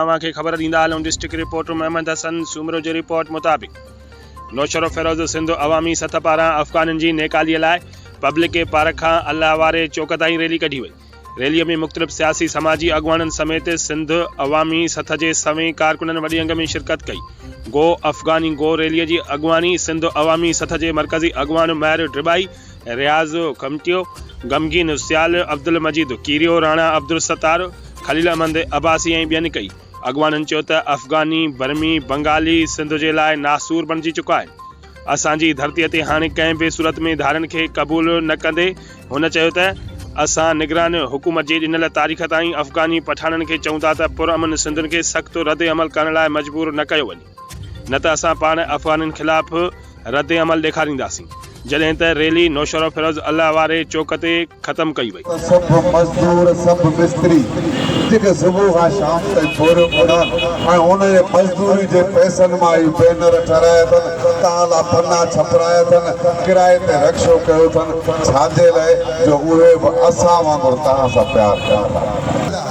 اوهان کي خبر ڏيندا هلون ڊسٽرڪٽ رپورٽر محمد حسن سومرو جي رپورٽ مطابق نوشهروفيروز سنڌ عوامي سطح پاران افغانن جي نيڪالي لاء پبلڪ پارڪ کان الله واري چوڪ تائين ريلي ڪڍي وئي ريلي ۾ مختلف سياسي سماجي اڳواڻن سميت سنڌ عوامي سطح جي سوين ڪارڪنن وڏي انگ ۾ شرڪت ڪئي گو افغاني گو ريلي جي اڳواڻي سنڌ عوامي سطح جي مرڪزي اڳواڻ مهر ڊرٻائي رياض کمٽيو، غمگين سيال، عبدالمجيد ڪيريو، راڻا عبدالستار، خليل احمد عباسي ۽ ٻين ڪئي اڳواڻن چيو ته افغاني، برمي، بنگالي سنڌ جي لاء ناسور بڻجي چڪا آهن، اسان جي ڌرتي تي هاڻي ڪنهن به صورت ۾ ڌارين کي قبول نه ڪندي هن چيو ته اسان نگران حڪومت جي ڏنل تاريخ تائين افغاني پٺاڻن کي چئون ٿا ته پرامن سنڌين کي سخت ردعمل ڪرڻ لاء مجبور نه ڪيو وڃي. نه ته اسان پاڻ افغانين خلاف رد عمل ڏيکارينداسين. جڏهن ته ريلي نوشهروفيروز الله واري چوڪ تي ختم ڪئي وئي. سڀ مزدور، سڀ مستري جيڪي صبح کان شام تائين ڇوريون ڪندا ۽ انهن جي مزدوري جي پئسن مان هي بينر ٺهرايا اٿن، تان لا پنا ڇپرايا اٿن، ڪرائي تي رڪشو ڪيو اٿن، ڇا جي لاء جو اهي به اسان وانگر تان سان پيار ڪن ٿا.